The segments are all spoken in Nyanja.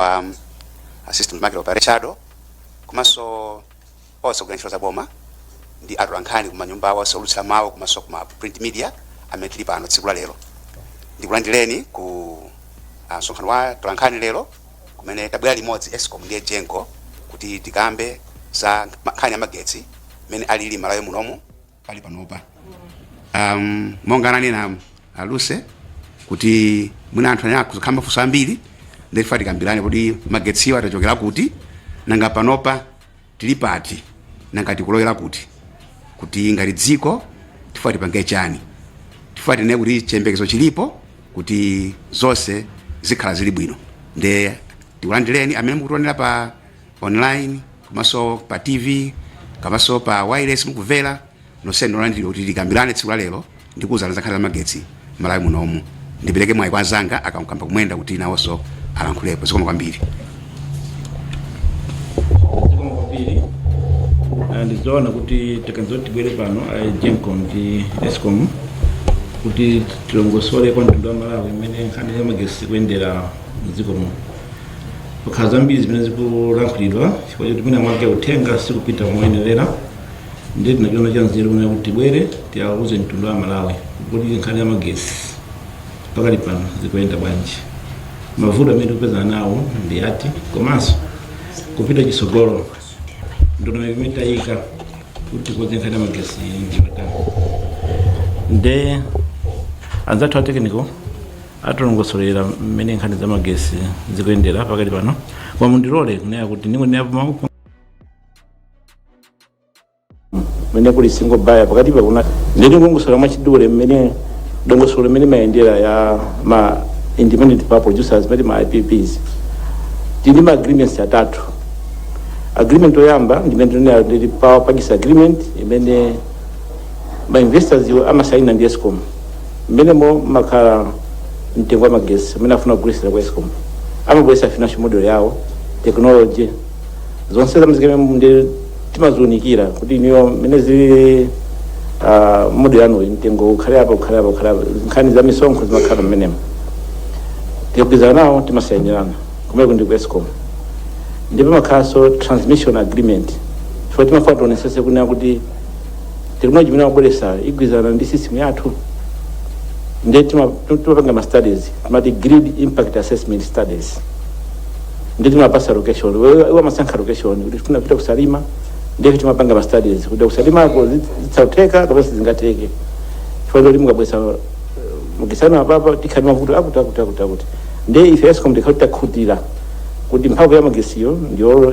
kwa mm, system market operator chado komanso onse ogwira ntchito za boma ndi atolankhani kumanyumba awo onse oulutsira mawu komanso kuma print media amene tili pano tsiku la lero ndikulandireni ku ah, msonkhano wa atolankhani lero kumene tabwera limodzi escom ndi egenco kuti tikambe za nkhani ya magetsi mmene alili malawi munomu pali panopa um, monga ananena aluse kuti mwina anthu amakhala ndi mafunso ambiri nde tifuna tikambirane kodi magetsiwa tachokera kuti nanga panopa tili pati nanga tikulowera kuti kuti ngati dziko tifuna tipange chani tifuna tinene kuti chiyembekezo chilipo kuti zonse zikhala zili bwino nde tikulandireni amene mukutionera pa online komanso pa tv komanso pa wireless mukumvera nonse ndolandiridwa kuti tikambirane tsiku la lero ndikuwuzana za nkhani za magetsi malawi munomu ndipereke mwayi kwa anzanga a kamkwamba kumwenda kuti nawonso alankhulepo zikomo kwambiri zikomo kwambiri Ah, ndizoona kuti taganiza zoti tibwere pano a egenco ndi escom kuti tilongosole kwa mtundu wa amalawi mmene nkhani ya magetsi ikuyendera mdziko muno pakhala zambiri zimene zikulankhulidwa chifukwa choti mwina mwake uthenga sikupita moyenerera ndiye tinachiona cha nzeru kunena kuti tibwere tiawuze mtundu wa amalawi kuti nkhani ya magesi pakali pano zikuyenda bwanji mavuto amene tikupezana nawo ndi ati komanso kupita chisogolo ndondomeko imene tayika kuti tikonze nkhani ya magesi ndi yotani nde anzathu a technical atilongosolera mmene nkhani za magesi zikuyendera pakali pano koma mundilole kunena kuti ndingonena pamavuto amene kuli single buyer pakati pa kuna nde ndingolongosola mwachidule mmene dongosolo mmene imayendera ya ma independent power producers timati ma IPPs tili ma agreements atatu agreement oyamba ndimene timanena ndi power purchase agreement imene ma investors iwo amasaina ndi escom mmenemo mmakhala mtengo wa magesi amene afuna kugulitsira ku escom amabweretsa financial model yawo technology zonse amaziika mmenemo ndi timaziunikira kuti iyo mmene zili ah, model yanuyi mtengo ukhale apa ukhale apa ukhale apa nkhani za misonkho zimakhala mmenemo tikagwirizana nawo timasayinirana kumene kuno ndi ku escom ndipo pamakhalanso transmission agreement chifukwa timafuna tionesese kunena kuti tekinoloji imene akubweretsayo igwirizana ndi system yathu ndiye tima- tu- timapanga ma studies timati grid impact assessment studies ndiye timapasa location wewe- iwe umasankha location kuti tifuna kupita kusalima ndiye timapanga ma studies kuti kusalimako zitha kutheka kapena sizingatheke chifukwa choti mukabweretsa mukuikana apapa tikhala ndi mavuto akuti akuti akuti akuti ndiye ife escom tikati takhutira kuti mphamvu ya magesiyo ndiyo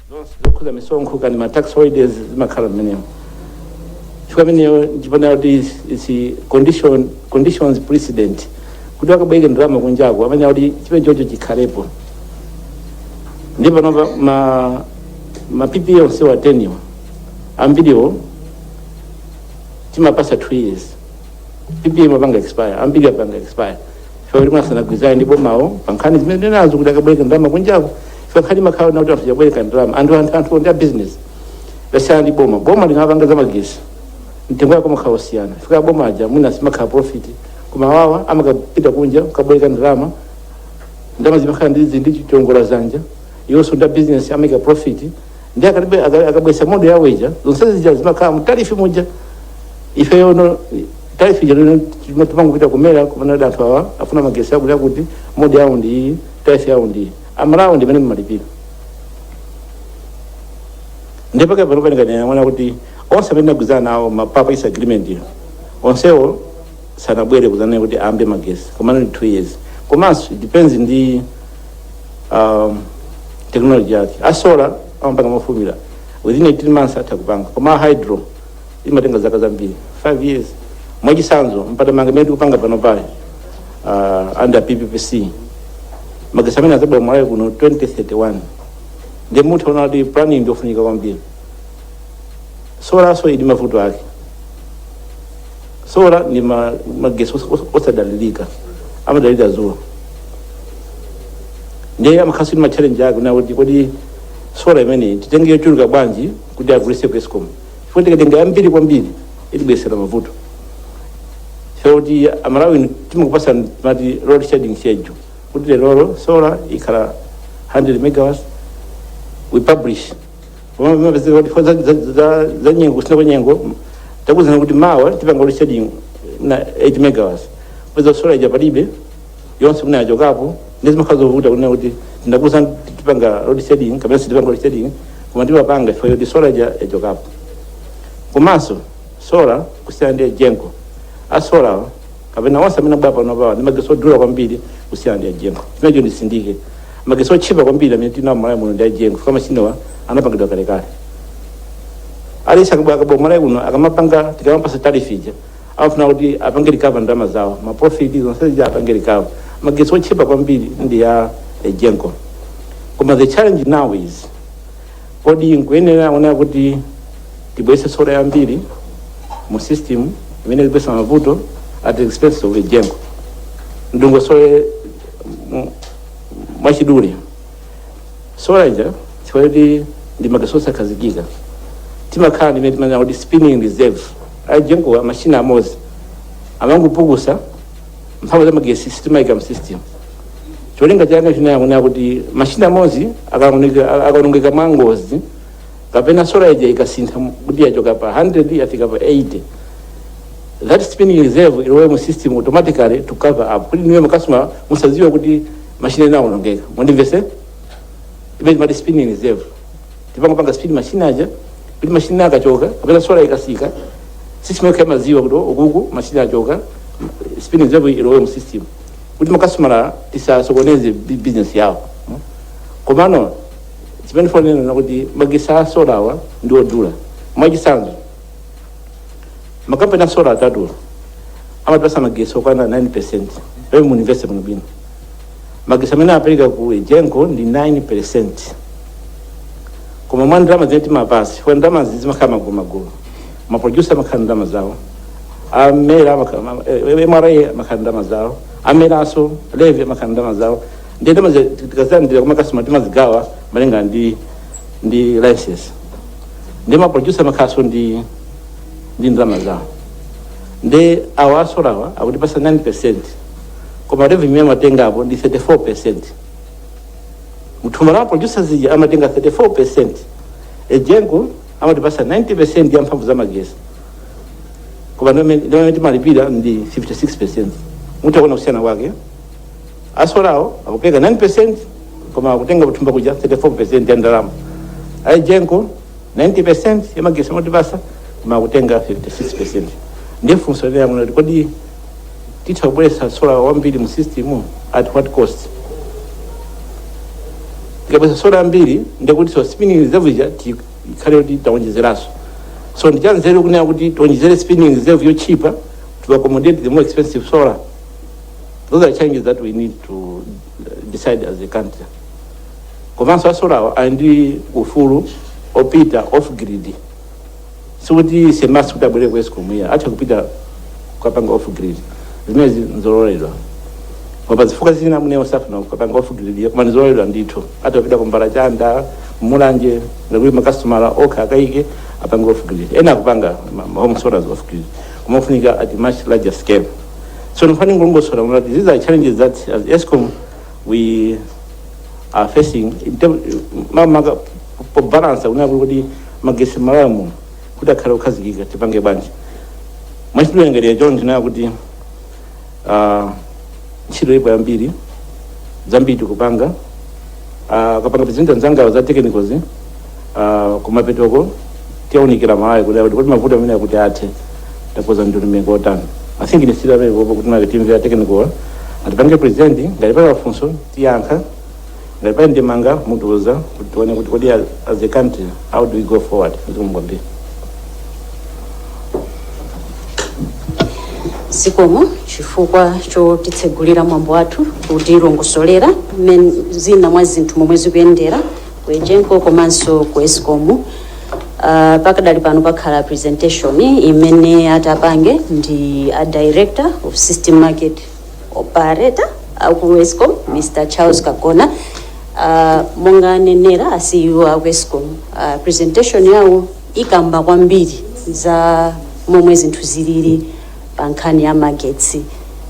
zonse zokhuza misonkho kaya ndi ma tax holidays zimakhala mmenemo chifukwa imeneyo ndiponena kuti is- is condition conditions precedent kuti akabweke ndalama kunjako amayenera kuti chimene chocho chikhalepo ndi panopa ma ma ppa onse atheniwa ambiriwo timapasa two years ppa imapanga expire ambiri apanga expire chifukwa choti mwina sanagwirizane ndi bomawo pa nkhani zimene ndanenazo kuti akabwereke ndalama kunjako chifukwa nkhani imakhala yakuti anthu akabwereka ndalama anthu anthu anthu ndi a business kusiyana ndi boma boma likapanga za magesi mtengo wake umakhala osiyana chifukwa boma aja mwina simukhala profit koma awa amakapita kunja kukabwereka ndalama ndalama zimakhala ndi ndi chiongola zanja iwonso ndi a business amaika profit ndiye akabwe- aka- akabwesa modo yawo ija zonse zija zimakhala mtarifi muja ifeyo ndiye tarifi ija ija ndi imene timangopita ku mera kunena kuti anthu awa afuna magesi akuti akuti modo yawo ndi iyi tarifi yawo ndi iyi amalawi ndi imene mmalipira ndipo panopa ndikanena mwina kuti onse amene tagwirizana nawo ma power purchase agreement iwo onsewo sanabwere kuzanena kuti ayambe magesi komano ndi two years komanso it depends ndi um, technology yake asola amapanga mofulumira within 18 months atha kupanga koma hydro imatenga zaka zambiri 5 years mwachisanzo mpatamanga imene tikupanga pano pali uh, under pppc magesi amenewo azabwera malawi kuno 2031 ndiye mutha kuona kuti planning ndiofunika kwambiri solanso ili mavuto ake sola ndi ma- magesi os- os- osadalirika amadalira zuwa ndiye amakhalanso ndi matchalenji ake kunena kuti kodi sola imeneyi titenge yochuluka bwanji kuti agulise ku escom chifukwa tikatenga yambiri kwambiri itibwesera mavuto moti amalawi timakupasani load shedding schedule kuti lero sola ikhala 100 megawatts we publish za nyengo kusintha kwa nyengo takuuzani kuti mawa tipanga load shedding ya 8 megawatts mupeza sola ija palibe yonse mwina yachokapo ndiye zimakhala zovuta kunena kuti tinakuuzani tipanga load shedding kapena sitipanga load shedding koma tikupanga chifukwa choti sola ija yachokapo komanso sola kusiyana ndi egenco asola kapena onse amene abwera pano awa ndi magetsi odula kwambiri kusiyana ndi a Egenco chimenecho nditsindike magetsi otchipa kwambiri amene tinawo malawi muno ndi a Egenco chifukwa machinewa anapangidwa kalekale alesi akabwera akabwera malawi kuno akamapanga tikamapatsa tariff ija amafuna kuti apange recover ndalama zawo ma profit zonse zija apange recover magetsi otchipa kwambiri ndi ya a Egenco koma the challenge now is Kodi nkuyenera kuona kuti tibweretse sola yambiri mu system imene ikubweretsa mavuto at the expense of Egenco? Ndilongosole mu- mwachidule sola ija chifukwa choti ndi magetsi osakhazikika timakhala ndimene timanena kuti spinning reserve a Egenco machine amodzi amangopukusa mphamvu za magetsi sitimayika mu system cholinga chake china nchakuti machine amodzi akaoneka- akaonongeka mwa ngozi kapena sola ija ikasintha mu- kuti yachoka pa 100 yafika pa 80 that spinning reserve ilowe mu system automatically to cover up kuti inuyo makasitoma musadziwe kuti machine inaonongeka mundimvetse imene timati spinning reserve timangopanga spin machine aja kuti machine akachoka kapena sola ikatsika system yokha imadziwa kuti uku machine achoka spinning reserve ilowe mu system kuti makasitomala tisasokoneze bu- business yawo mm. komano chimene ndifuna kunena nchakuti magetsi a sola awa ndi odula mwachisanzo makampani a sola atatu amatipatsa magetsi okwana 9 percent pamene mundimvetse muno bwino Magetsi amene amapereka ku Egenco ndi 9%. Koma mwa ndalama zimene timapatsa, chifukwa ndalama zimakhala magulumagulu. Ma producer amakhala ndi ndalama zawo. A MERA amakhala, ma- eh, MRA amakhala ndi ndalama zawo. A MERAnso, Levy amakhala ndi ndalama zawo. Ndi ndalama zi- tikazilandira kwa makasitoma timazigawa malinga ndi ndi license. Ndi ma producer amakhalanso ndi ndi ndalama zawo. Ndi awa asolawa akutipatsa 9%. koma revenue imene amatengapo ndi 34 percent mthumba la ma producers lija amatenga 34 percent Egenco amatipatsa 90 percent ya mphamvu za magetsi koma ndimene timalipira ndi 56 percent mutha kuona kusiyana kwake asolawo akupereka 9 percent koma akutenga kuthumba kuja 34 percent ya ndalama a Egenco 90 percent ya magetsi amatipatsa koma akutenga 56 percent ndiye funso linali lakuti kuti kodi titha kubweretsa sola wambiri mu system at what cost tikabweretsa sola yambiri ndiye kuti so spinning reserve ija ti- ikhale kuti taonjezeranso so ndichanzeru kunena kuti tionjezere spinning reserve yotchipa to accommodate the more expensive solar those are challenges that we need to uh, decide as a country komanso asolawa ali ndi ufulu opita off grid sikuti amachita kuti abwere ku escom iya atha kupita kukapanga off grid zimenezi nzololedwa koma zifukwa zina mwina safuna kukapanga off grid iya koma nzololedwa ndithu atha kupita Kumbala Chanda mulanje ngakhale makasitomala okha akayike apange off grid ena akupanga ma- ma home solar off grid koma ofunika at much larger scale so ndimafuna ndilongosole kunena kuti these are challenges that as escom we are facing in term- ma- maka- po balance kunena kuti magetsi m'malawi muno kuti akhale okhazikika tipange bwanji mwachidule ndinganene kuti tinene kuti ah, ntchito ipo yambiri zambiri tikupanga Ah, akapanga present anzangawo za technicals ah, kumapetoko tiyaunikira malawi kuti kuti kuti mavuto amene akuti athe takoza ndondomeko zotani i think ndisiyire pamenepo kuti a team ya technical atipange present ngati pali mafunso tiyankha ngati pali ndemanga mutiuza kuti tione kuti kodi as as a country how do we go forward zikomo kwambiri zikomo chifukwa chotitsegulira mwambo wathu kutilongosolera mmene zina mwa zinthu momwe zikuyendera ku egenco komanso ku escom uh, pakadali pano pakhala presentation imene atapange ndi a director of system market operator aku escom mr charles kagona uh, monga anenera a CEO aku escom uh, presentation yawo ikamba kwambiri za momwe zinthu zilili pa nkhani ya magetsi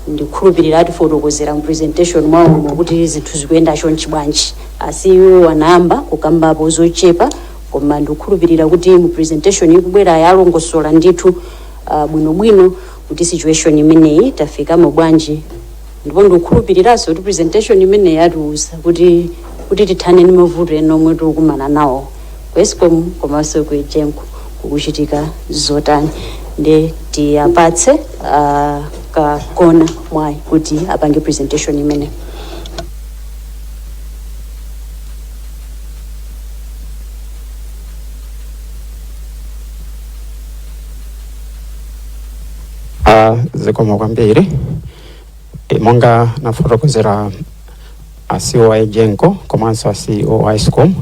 ndikhulupirira atifotokozera mu presentation mwawo muno kuti zinthu zikuyenda chonchi bwanji a CEO anayamba kukambapo zochepa koma ndikukhulupirira kuti mu presentation ikubwera ilongosola ndithu uh, bwinobwino kuti situation imeneyi tafikamo bwanji ndipo ndikukhulupiriranso kuti presentation imeneyi itiuza kuti kuti tithane ndi mavuto ena omwe tikukumana nawo ku escom komanso ku egenco kukuchitika zotani nde tiwapatse uh, a kagona mwayi kuti apange presentation imeneyi Ah, zikomo kwambiri e, monga anafotokozera a CEO a Egenco komanso a CEO a Escom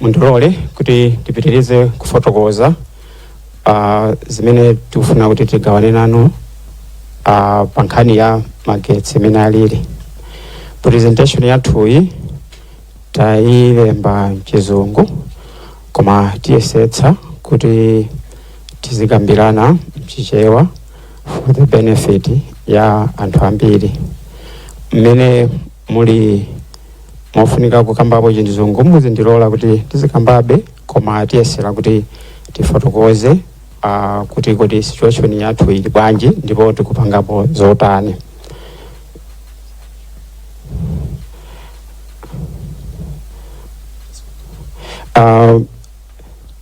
mundilole kuti tipitirize kufotokoza ah, zimene tikufuna kuti tigawane nanu ah, pa nkhani ya magetsi mmene alili presentation yathuyi tayilemba mchizungu koma tiyesetsa kuti tizikambirana mchichewa for the benefit ya anthu ambiri mmene muli mofunika kukambapo chizungu muzindilola kuti tizikambabe koma tiyesera kuti tifotokoze uh, kuti kodi situation yathu ili bwanji ndipo tikupangapo zotani uh,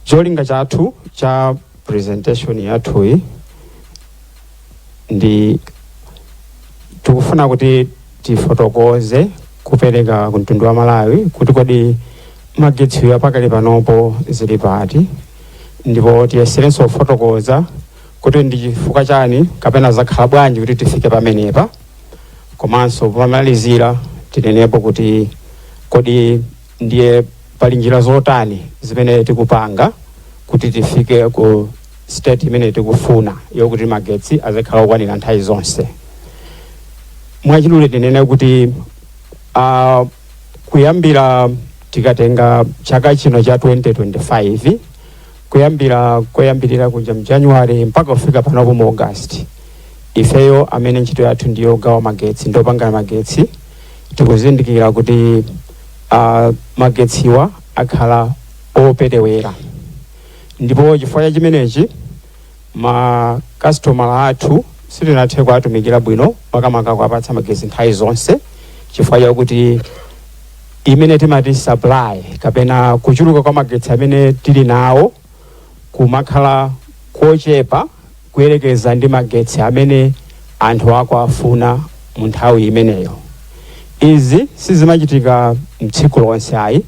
cholinga chathu cha presentation yathuyi ndi tikufuna kuti tifotokoze kupereka ku mtundu wa malawi kuti kodi magetsiwa pakali panopo zili pati ndipo tiyeserenso kufotokoza kuti ndi chifukwa chani kapena zakhala bwanji kuti tifike pamenepa komanso pomalizira tinenepo kuti kodi ndiye pali njira zotani zimene tikupanga kuti tifike ku state imene tikufuna yokuti magetsi azikhala okwanira nthawi zonse mwachidule tinene kuti uh, kuyambira tikatenga chaka chino cha 2025 kuyambira koyambirira kuja mu january mpaka kufika panopo mu august ifeyo amene ntchito yathu ndi yogawa magetsi ndi opanga magetsi tikuzindikira kuti uh, magetsiwa akhala operewera ndipo chifukwa cha chimenechi Ma kasitomala athu sitinathe kuwatumikira bwino makamaka kuwapatsa magetsi nthawi zonse chifukwa chakuti imene timati supply kapena kuchuluka kwa magetsi amene tili nawo kumakhala kochepa kuyerekeza ndi magetsi amene anthu akuwafuna mu nthawi imeneyo. Izi sizimachitika mtsiku lonse ayi.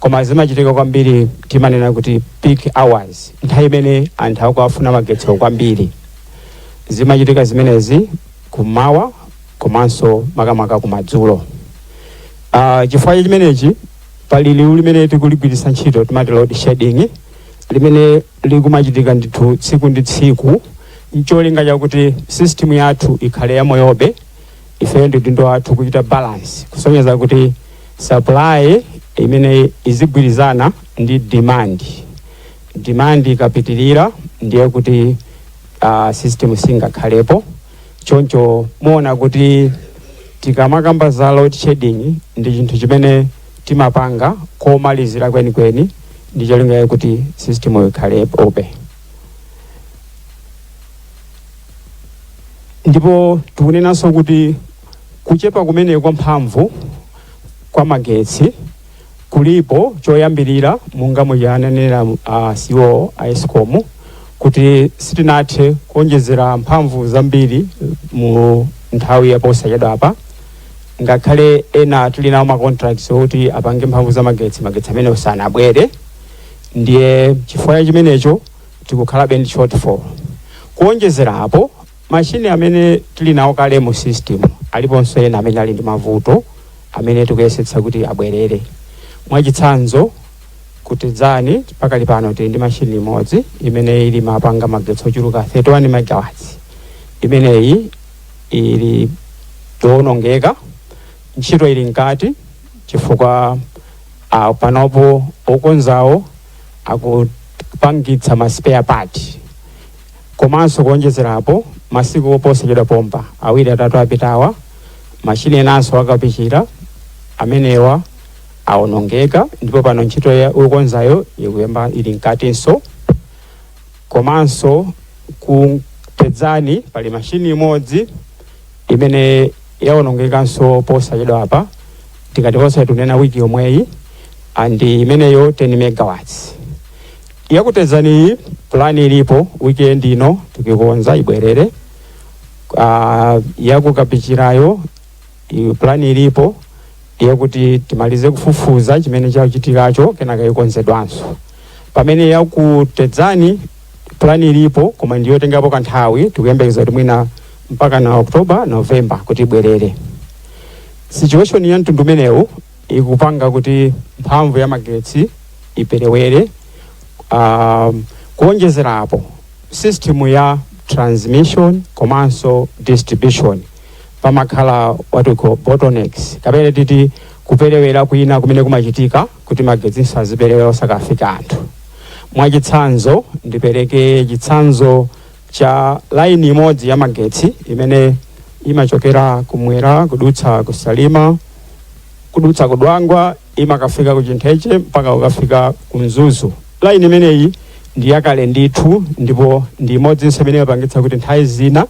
koma zimachitika kwambiri timanena kuti peak hours nthawi imene anthu akuwafuna magetsiwo kwambiri zimachitika zimenezi kummawa komanso makamaka kumadzulo uh, chifukwa cha chimenechi pali liwu limene tikuligwiritsa ntchito timati load shedding limene likumachitika ndithu tsiku ndi tsiku ncholinga chakuti system yathu ikhale yamoyobe ifeyo ndi udindo wathu kuchita balance kusonyeza kuti supply imene izigwirizana ndi demand demand ikapitirira ndiye kuti uh, system singakhalepo choncho muona kuti tikamakamba za load shedding ndi chinthu chimene timapanga komalizira kwenikweni ndi cholinga kuti system ikhalepobe ndipo tikunenanso kuti kuchepa kumene kwa mphamvu kwa magetsi kulipo choyambirira monga mmene ananenera a CEO a Escom kuti sitinathe kuonjezera mphamvu zambiri mu nthawi yaposachedwa apa ngakhale ena tili nawo ma contracts oti apange mphamvu za magetsi magetsi amene sanabwere ndiye chifukwa cha chimenecho tikukhalabe ndi shortfall kuonjezera apo mashini amene tili nawo kale mu system aliponso ena amene ali ndi mavuto amene tikuyesetsa kuti abwerere mwachitsanzo ku Tedzani pakali pano tili ndi machini imodzi imene imapanga magetsi ochuluka 31 megawatts imeneyi ili yowonongeka ntchito ili mkati chifukwa Uh, panopo okonzawo akupangitsa ma spare part komanso kuonjezerapo masiku oposachedwa pompa awiri atatu apitawa mashini enanso a ku Kapichira amenewa awonongeka ndipo pano ntchito yokonzayo ikuyamba ili mkatinso Komanso ku Tedzani pali mashini imodzi imene yawonongekanso posachedwapa, tikati posachedwa tikunena week yomweyi, and imeneyo 10 megawatts. Ya ku Tedzaniyi plan ilipo weekend ino tikuikonza ibwerere. Aaa ya ku Kapichirayo. Iyo pulani ilipo ndi yakuti timalize kufufuza chimene chachitikacho kenaka ikonzedwanso pamene ya ku Tedzani pulani ilipo koma ndi yotengapo kanthawi tikuyembekeza kuti mwina mpaka na oktoba novemba kuti ibwerere situation ya mtundu umenewu ikupanga kuti mphamvu ya magetsi iperewere um, kuonjezera apo system ya transmission komanso distribution pamakhala what we call bottlenecks kapena titi kuperewera kwina kumene kumachitika kuti magetsinso aziperewera osakafika anthu mwachitsanzo ndipereke chitsanzo cha laini imodzi ya magetsi imene imachokera kumwera kudutsa ku Salima kudutsa ku Dwangwa imakafika ku Chintheche mpaka kukafika ku Mzuzu laini imeneyi ndi yakale ndithu ndipo ndi imodzinso imene imapangitsa kuti nthawi zina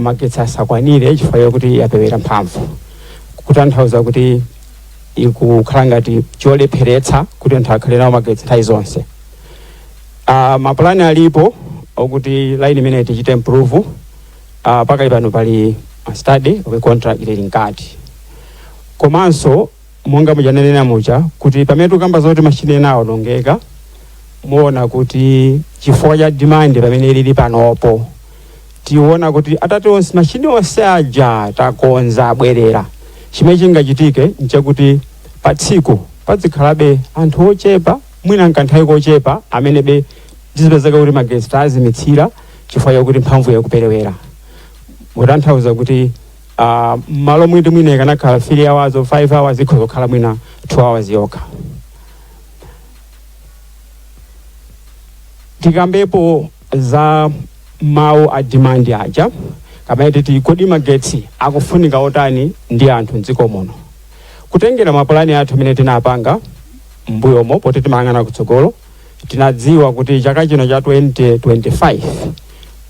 magetsi asakwanire chifukwa chakuti yaperewera mphamvu kutanthauza kuti ikukhala ngati cholepheretsa kuti anthu akhale nawo magetsi nthawi zonse uh, mapulani alipo okuti line imeneyi tichite improve uh, pakali pano pali a study we contract ili mkati komanso monga munanenera muja kuti pamene tikukamba zoti mashini ena awonongeka muona kuti chifukwa cha demand pamene lili panopo tiona kuti atati onse mashini onse aja takonza abwerera chimene chingachitike nchakuti pa tsiku padzikhalabe anthu ochepa mwina mkanthawi kochepa amene be tizipezeka kuti magetsi tazimitsira chifukwa chakuti mphamvu yakuperewera kutanthauza kuti Uh, malo moti mwina ikanakhala 3 hours or 5 hours ikhoza kukhala mwina 2 hours yokha tikambepo za mawu a demand aja kapena titi kodi magetsi akufunika otani ndi anthu mdziko muno kutengera mapulani athu amene tinapanga mbuyomo poti timayang'ana kutsogolo tinadziwa kuti chaka chino cha 2025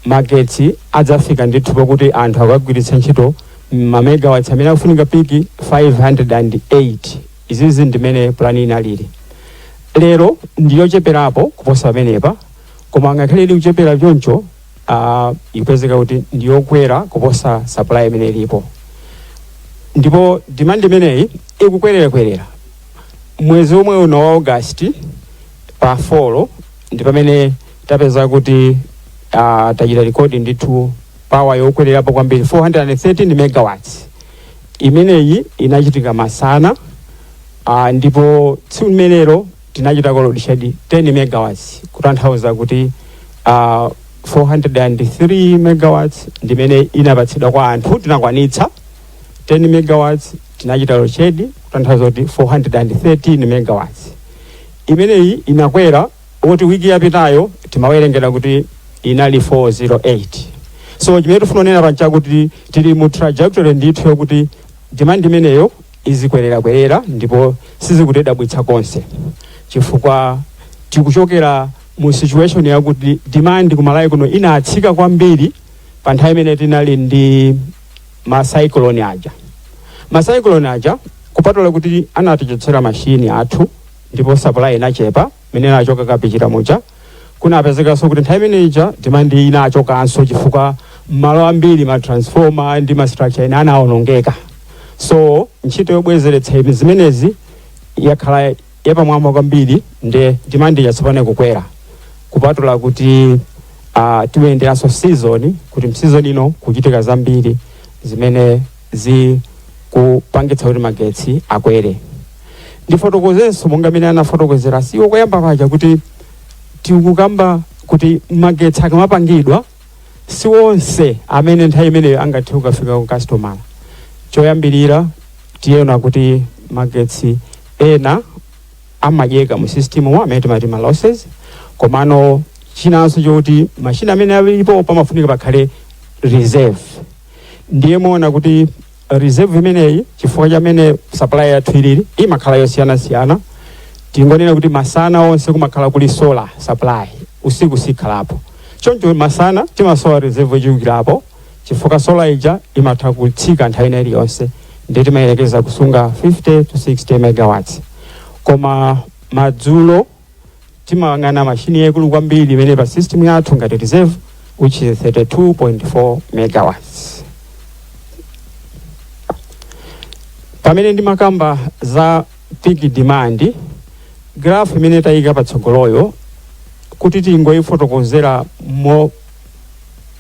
magetsi adzafika ndithu pokuti anthu akugwiritsa ntchito mamegawatts amene akufunika piki 508 izizi ndimene pulani inalili lero ndiyocheperapo kuposa pamenepa koma ngakhale ili kuchepera choncho uh, ikupezeka kuti ndiyokwera kuposa supply imene ilipo ndipo demand imeneyi ikukwererakwerera mwezi omwe uno wa august pa 4 ndi pamene tapeza kuti uh, tachita rekodi ndithu pawa yokwererapo kwambiri 413 megawatts imeneyi inachitika masana uh, ndipo tsiku limenelo tinachita load shed 10 megawatts kutanthauza kuti uh, 403 megawatts ndimene inapatsidwa kwa anthu tinakwanitsa 10 megawatts tinachita load shed kutanthauza kuti 413 megawatts imeneyi inakwera kuti wiki yapitayo timawerengera kuti inali 408 so chimene tifuna kunena apa nchakuti tili mu trajectory ndithu yokuti demand imeneyo izikwererakwerera ndipo sizikutidabwitsa konse chifukwa tikuchokera mu situation yakuti demand ku malawi kuno inatsika kwambiri pa nthawi imene tinali ndi ma cyclone aja ma cyclone aja kupatula kuti anatichotsera mashini athu ndipo supply inachepa imene inachoka kapichira muja kunapezekanso kuti nthawi imene ija demand inachokanso chifukwa malo ambiri ma transformer ndi ma structure ena anawonongeka so ntchito yobwezeretsa zimenezi yakhala yapamwamba kwambiri nde demand yatsopano ikukwera kupatula kuti uh, tiyenderanso season kuti mseason ino kuchitika zambiri zimene zikupangitsa kuti magetsi akwere ndifotokozenso monga mmene anafotokozera CEO koyamba paja kuti tikukamba kuti magetsi akamapangidwa si onse amene nthawi imeneyo angathe kukafika ku customer choyambirira tiona kuti magetsi ena amadyeka mu system mu amene timati ma losses komano chinanso choti mashini amene alipo pamafunika pakhale reserve ndiye muona kuti reserve imeneyi chifukwa chamene supply yathu ilili imakhala yosiyanasiyana tingonene kuti masana onse kumakhala kuli solar supply usiku sikhalapo choncho masana timasowa reserve yochulukirapo chifukwa solar ija imatha kutsika nthawi ina iliyonse ndiye timayerekeza kusunga 50 to 60 megawatts koma madzulo timayang'ana mashini yaikulu kwambiri imene pa system yathu ngati reserve which is 32.4 megawatts pamene ndimakamba za peak demand graph imene tayika patsogoloyo kuti tingoyifotokozera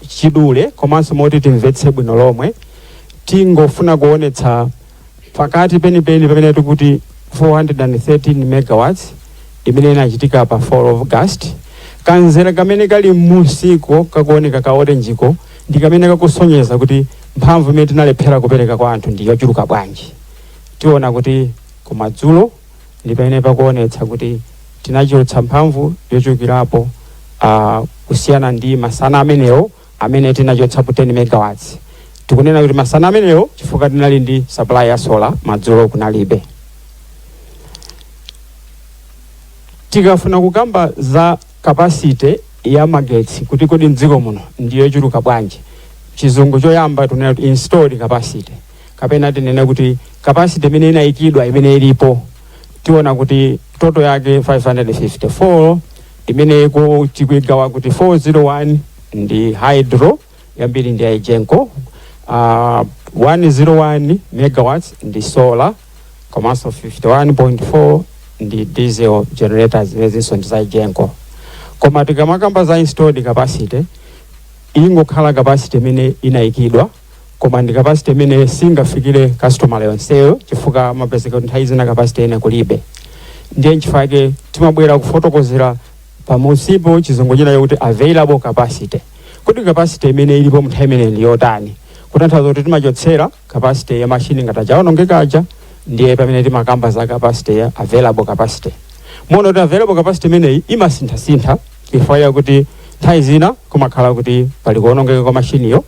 mwachidule komanso moti timvetse bwino lomwe tingofuna kuonetsa pakati penipeni pamene tikuti 413 megawatts imene inachitika pa 4th of August kamzere kamene kali m'musiko kakuoneka ka orenjiko ndi kamene kakusonyeza kuti mphamvu imene tinalephera kupereka kwa anthu ndi yochuluka bwanji tiona kuti kumadzulo ndi pamene pakuonetsa kuti tinachotsa mphamvu yochulukirapo ah, kusiyana ndi masana amenewo amene tinachotsapo 10 megawatts tikunena kuti masana amenewo chifukwa tinali ndi supply ya solar madzulo kunalibe tikafuna kukamba za capacity ya magetsi kuti kodi mdziko muno ndi yochuluka bwanji chizungu choyamba tunena kuti installed capacity kapena tinene kuti capacity imene inayikidwa imene ilipo tiona kuti total yake 554 imene iko tikuigawa kuti 401 ndi hydro yambiri ndi a EGENCO uh, 101 megawatts ndi solar komanso 51.4 ndi diesel generators zimenezinso ndi za a EGENCO koma tikamakamba za installed capacity ingokhala capacity imene inayikidwa koma ndi capacity imene singafikire customer yonseyo chifukwa mapezeka kuti nthawi zina capacity ina kulibe ndiye nchifukwa chake timabwera kufotokozera pamusipo chizungu china kuti available capacity kuti capacity imene ilipo munthawi imene ndi yotani kutanthauza kuti timachotsera capacity ya mashini ngati atakhala aonongeka aja ndiye pamene timakamba za capacity ya available capacity muona kuti available capacity imeneyi imasinthasintha chifukwa chakuti nthawi zina kumakhala kuti pali kuonongeka kwa mashiniyo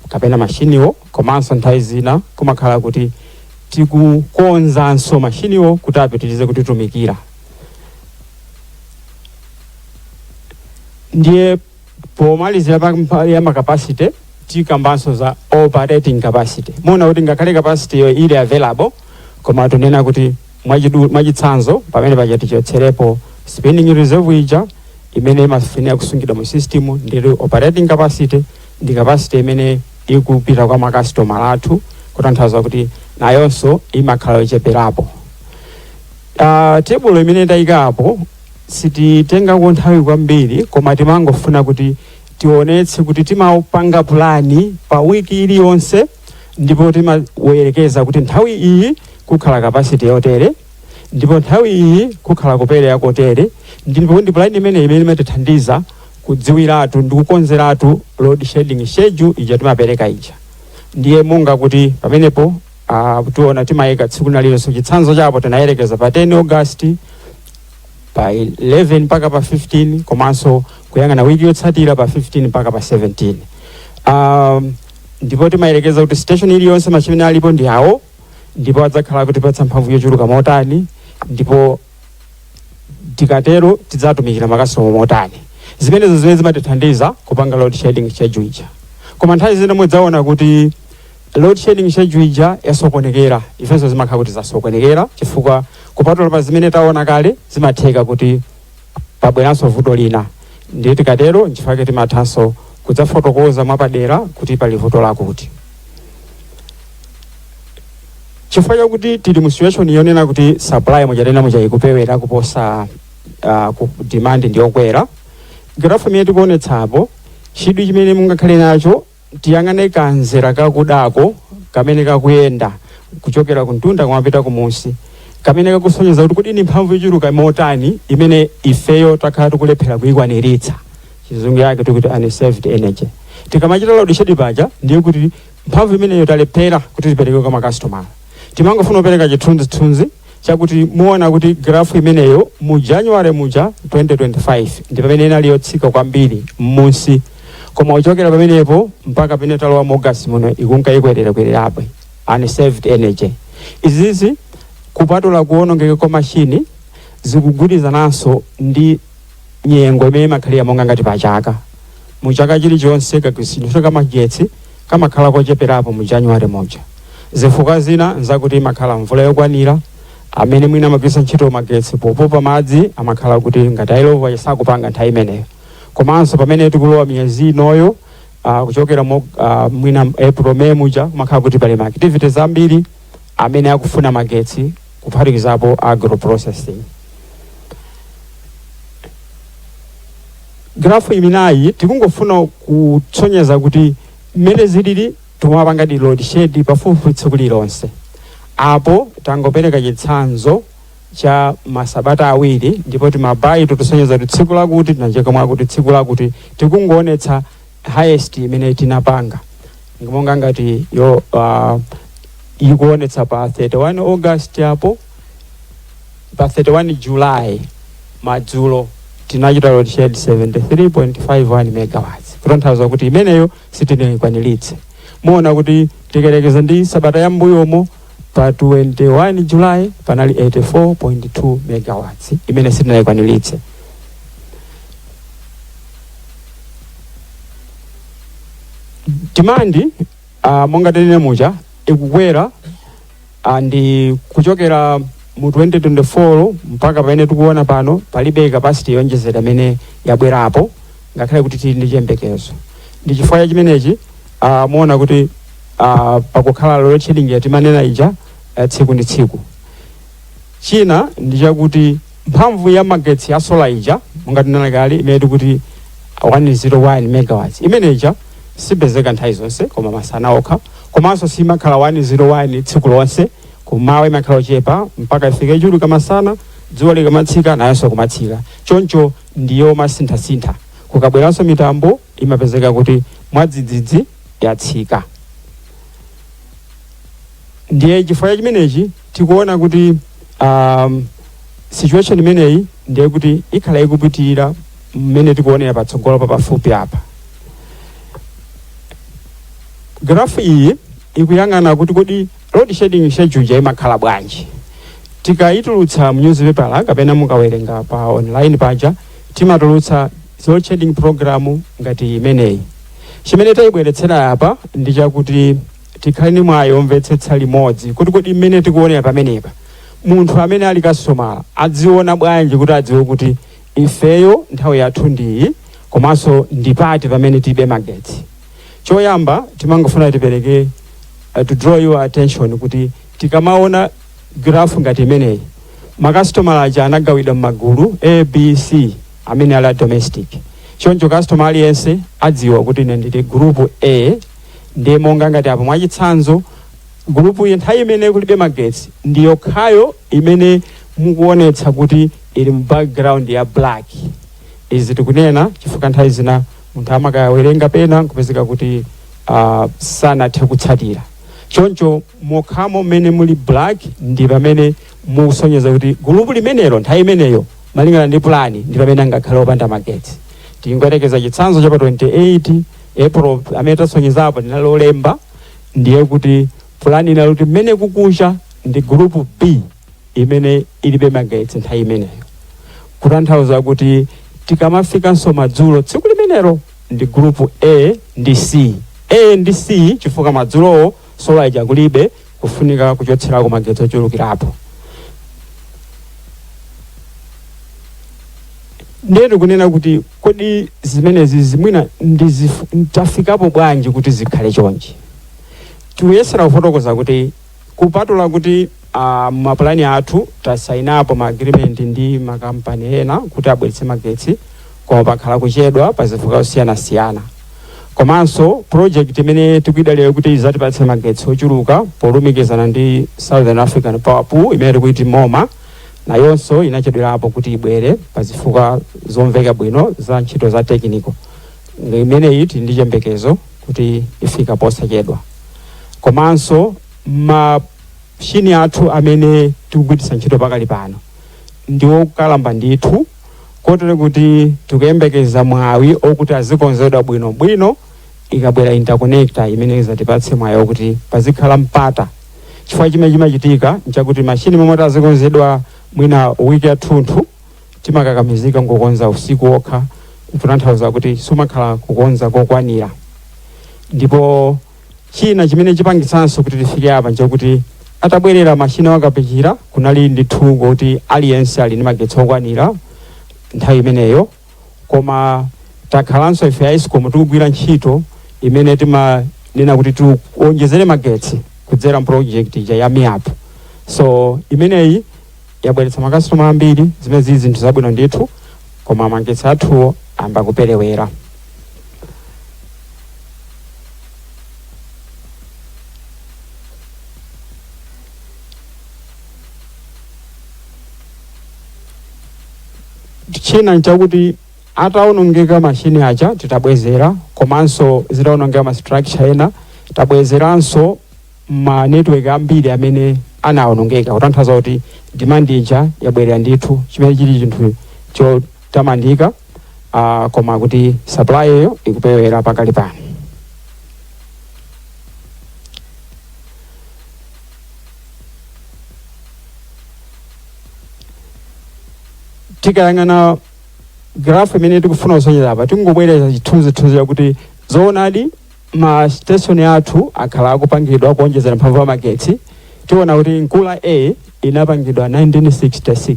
kapena mashiniwo komanso nthawi zina kumakhala kuti tikukonzanso mashiniwo kuti apitirize kutitumikira ndiye pomalizira pa ya makapasite tikambanso za operating capacity muona kuti ngakhale capacity yo ili available koma tunena kuti Mwachitsanzo, pamene paja tichotserepo spinning reserve ija imene imafunika kusungidwa mu system ndi operating capacity ndi capacity imene ikupita kwa makasitoma athu kutanthauza kuti nayonso imakhala yocheperapo. Uh, tebulo imene tayikapo sititengako nthawi kwambiri koma timangofuna kuti tionetse kuti timapanga pulani pa wiki iliyonse ndipo timayerekeza kuti nthawi iyi kukhala kapasiti yotere ndipo nthawi iyi kukhala kupereka kotere ndipo ndi pulani imene imene imatithandiza kudziwiratu ndi kukonzeratu load shedding schedule ija timapereka ija ndiye monga kuti pamenepo ah, tiona timayika tsiku nalilonse chitsanzo chapo tinayerekeza pa 10 august pa 11 mpaka pa 15 komanso kuyang'ana wiki yotsatira pa 15 mpaka pa 17 um, ndipo timayerekeza kuti station iliyonse machine amene alipo ndi awo ndipo adzakhala akutipatsa mphamvu yochuluka motani ndipo tikatero tidzatumikira makasitoma motani zimenezo zimene zimatithandiza kupanga load shedding schedule ija koma nthawi zina mudzaona kuti load shedding schedule ija yasokonekera ifenso zimakhala kuti zasokonekera chifukwa kupatula pa zimene taona kale zimatheka kuti pabweranso vuto lina ndiye tikatero nchifukwa chake timathanso kudzafotokoza mwapadera kuti pali vuto lakuti chifukwa chakuti tili mu situation yonena kuti supply muja tanena muja ikuperewera kuposa uh, demand ndiyokwera grafu imene tikuonetsapo chidwi chimene mungakhale nacho Tiyang'ane kamzera kakudako kamene kakuyenda kuchokera kumtunda kumapita kumunsi, kamene kakusonyeza kuti kodi ndi mphamvu yochuluka motani imene ifeyo takhala tikulephera kuikwaniritsa, chizungu yake tikuti unserved energy. Tikamachita load shedding paja ndiye kuti mphamvu imeneyo talephera kuti tipereke kwa makasitoma. Timangofuna kupereka chithunzithunzi. chakuti muona kuti grafu imeneyo mu january muja 2025 ndi pamene inali yotsika kwambiri m'munsi koma kuchokera pamenepo mpaka pamene talowa mu august muno ikunka ikwererakwererabe unserved energy izizi kupatula kuonongeka kwa mashini zikugwirizananso ndi nyengo imene imakhalira monga ngati pa chaka mu chaka chilichonse kagwiritsidwe ntchito ka magetsi kamakhala kocheperapo mu january muja zifukwa zina nzakuti imakhala mvula yokwanira amene mwina amagwiritsa ntchito magetsi popopa madzi amakhala kuti ngati ayilova sakupanga nthawi imeneyo komanso pamene tikulowa miyezi inoyo uh, kuchokera mo, uh, mwina april may muja kumakhala kuti pali ma activities ambiri amene akufuna magetsi kuphatikizapo agro-processing. Graph imeneyi tikungofuna kutsonyeza kuti mmene zilili tumapanga di load shed pafupifupi tsiku lililonse. Apo tangopereka chitsanzo cha masabata awiri ndipo timabayi tikusonyeza kuti tsiku lakuti tinacheka mwakuti tsiku lakuti tikungoonetsa highest imene tinapanga monga ngati yo uh, ikuonetsa pa 31 august apo pa 31 july madzulo tinachita load shed 73.51 megawatts kutanthauza kuti imeneyo sitinayikwaniritse muona kuti tikayerekeza ndi sabata ya mbuyomo pa 21 july panali 84.2 megawatts imene sitinayikwaniritse demand uh, monga tanene muja ikukwera uh, ndi kuchokera mu 2024 mpaka pamene tikuona pano palibe capacity yoonjezera imene yabwerapo ngakhale kuti tili ndi chiyembekezo ndi chifukwa cha chimenechi uh, muona kuti uh, pakukhala load shedding yatimanena ija uh, tsiku ndi tsiku China ndi chakuti mphamvu ya magetsi ya sola ija monga tinena kale imene tikuti 101 megawatts imene ija sipezeka nthawi zonse koma masana okha komanso simakhala 101 tsiku lonse kumawa imakhala yochepa mpaka ifike chulu kamasana dzuwa likamatsika nayonso kumatsika choncho ndi yomasinthasintha kukabweranso mitambo imapezeka kuti mwadzidzidzi yatsika ndiye chifukwa cha chimenechi tikuona kuti um, situation imeneyi ndiye kuti ikhala ikupitirira mmene tikuonera patsogolopa pafupi apa grafu iyi ikuyang'ana kuti kodi load shedding schedule imakhala bwanji tikayitulutsa mu newspaper kapena mukawerenga pa online paja timatulutsa load shedding program ngati imeneyi chimene tayibweretsera apa ndi chakuti Tikhale ndi mwayi womvetsetsa limodzi kuti kodi mmene tikuonera pamenepa, munthu amene ali kasitomala adziona bwanji kuti adziwe kuti ifeyo nthawi yathu ndi iyi komanso ndi pati pamene tilibe magetsi. Choyamba timangofuna tipereke to draw your attention kuti tikamaona girafhu ngati imeneyi, makasitomala aja anagawidwa m'magulu A, B, C amene ali a domestic. Choncho kasitomala aliyense adziwa kuti ine ndili gulupu A, ndiye monga ngati apo mwachitsanzo gulupu iyi nthawi imene kulibe magetsi ndi yokhayo imene mukuonetsa kuti ili mu background ya black izi tikunena chifukwa nthawi zina munthu amakawerenga pena nkupezeka kuti uh, sanathe kutsatira choncho mokhamo mmene muli black ndi pamene mukusonyeza kuti gulupu limenelo nthawi imeneyo malingana ndi pulani ndi pamene angakhale opanda magetsi tingoyerekeza chitsanzo cha pa 28 April amene tasonyezapa linali lolemba ndiye kuti pulani inali kuti mmene kukucha ndi gulupu b imene ilibe magetsi nthawi imeneyo kutanthauza kuti tikamafikanso madzulo tsiku limenelo ndi gulupu a ndi c a ndi c chifukwa madzulowo sola ija kulibe kufunika kuchotserako magetsi ochulukirapo ndiye tikunena kuti Kodi zimenezi zimwina ndizifu- tafikapo bwanji kuti zikhale chonchi tikuyesera kufotokoza kuti kupatula kuti uh, mapulani athu tasainapo ma agreement ndi makampani ena kuti abweretse magetsi koma pakhala kuchedwa pa zifukwa zosiyanasiyana komanso project imene tikuyidalira kuti izatipatse magetsi ochuluka polumikizana ndi southern african power pool imene tikuiti moma nayonso inachedwerapo kuti ibwere pa zifukwa zomveka bwino za ntchito za tekiniko. Imeneyi tili ndi chiyembekezo kuti ifika posachedwa. Komanso machini athu amene tikugwiritsa ntchito pakali pano ndi okalamba ndithu kotero kuti tikuyembekeza mwawi okuti azikonzedwa bwinobwino ikabwera interconnector imene izatipatse mwayi okuti pazikhala mpata chifukwa chimene chimachitika nchakuti machini moti azikonzedwa mwina wiki yathunthu timakakamizika ngokonza usiku wokha kutanthauza kuti sumakhala kukonza kokwanira ndipo china chimene chipangitsanso kuti tifike apa nchakuti atabwerera machini a Kapichira kunali ndithu ngokuti aliyense ali ndi magetsi okwanira nthawi imeneyo koma takhalanso ife a escom tikugwira ntchito imene timanena kuti tiwonjezere magetsi kudzera project ija ya MAREP so imeneyi yabweretsa makasitoma ambiri zimene zili zinthu zabwino ndithu koma magetsi athuwo ayamba kuperewera china nchakuti ataonongeka machini aja titabwezera komanso zitaonongeka ma structure ena tabwezeranso ma network ambiri amene anaonongeka kutanthauza kuti demand ija yabwerera ndithu chimene chili chinthu chotamandika uh, koma kuti supply yo ikuperewera pakali pano tikayang'ana graph imene tikufuna kusonyeza apa tikungobwereza chithunzithunzi chakuti zoonadi ma station athu akhala akupangidwa kuonjezera mphamvu ya magetsi tiona kuti nkula a inapangidwa 1966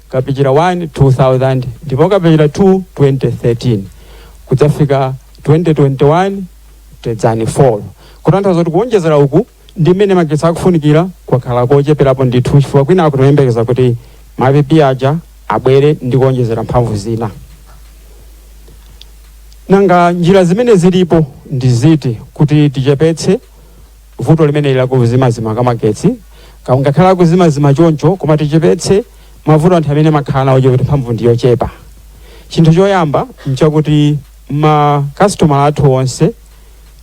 kapichira 1, 2000 ndipo kapichira 2, 2013 kudzafika 2021 tedzani 4 kutanthauza zoti kuonjezera uku ndi mmene magetsi akufunikira kwakhala kocheperapo ndithu chifukwa kwina timayembekeza kuti ma IPP aja abwere ndi kuonjezera mphamvu zina nanga njira zimene zilipo ndi ziti kuti tichepetse vuto limeneli la kuzimazima kwa magetsi ngakhale akuzimazima choncho koma tichepetse mavuto anthu amene amakhala nawo choti mphamvu ndi yochepa chinthu choyamba nchakuti makasitomala athu onse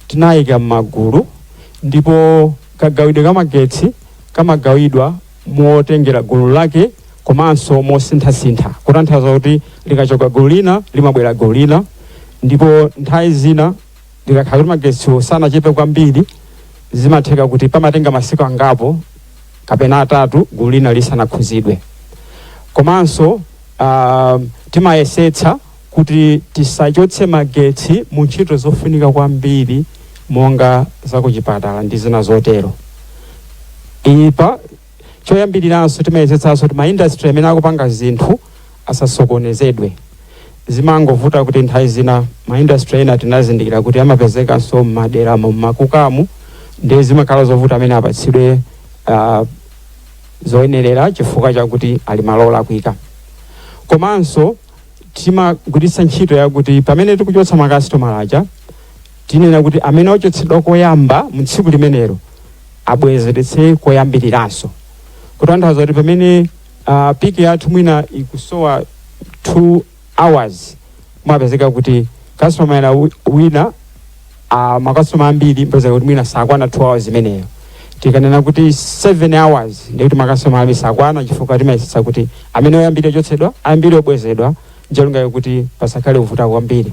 tinayika m'magulu ndipo kagawidwe ka magetsi kamagawidwa motengera gulu lake komanso mosinthasintha kutanthauza kuti likachoka gulu lina limabwera gulu lina ndipo nthawi zina zikakhala kuti magetsiwo sanachepe kwambiri zimatheka kuti pamatenga masiku angapo kapena atatu gulu lina lisanakhuzidwe komanso ah, timayesetsa kuti tisachotse magetsi mu ntchito zofunika kwambiri monga zakuchipatala ndi zina zotero ipa choyambiriranso timayesetsanso kuti maindastry omwe akupanga zinthu asasokonezedwe zimangovuta kuti nthawi zina maindastry ena tinazindikira kuti amapezekanso m'maderamo m'makukamu ndiye zimakhala zovuta amene apatsidwe ah, zoyenerera chifukwa chakuti ali malo olakwika komanso timagwiritsa ntchito yakuti pamene tikuchotsa makasitomala aja Tinena kuti amene wachotsedwa koyamba mu tsiku limenelo abwezeretse koyambiriranso, kutanthauza kuti pamene uh, piki yathu mwina ikusowa 2 hours umapezeka kuti kasitomala wina uh, makasitoma ambiri mpezeka kuti mwina sakwana 2 hours imeneyo tikanena kuti 7 hours ndiye kuti makasitoma ambiri sakwana chifukwa timayesetsa kuti amene oyambirira kuchotsedwa ayambirire kubwezedwa ncholinga chakuti pasakhale kuvuta kwambiri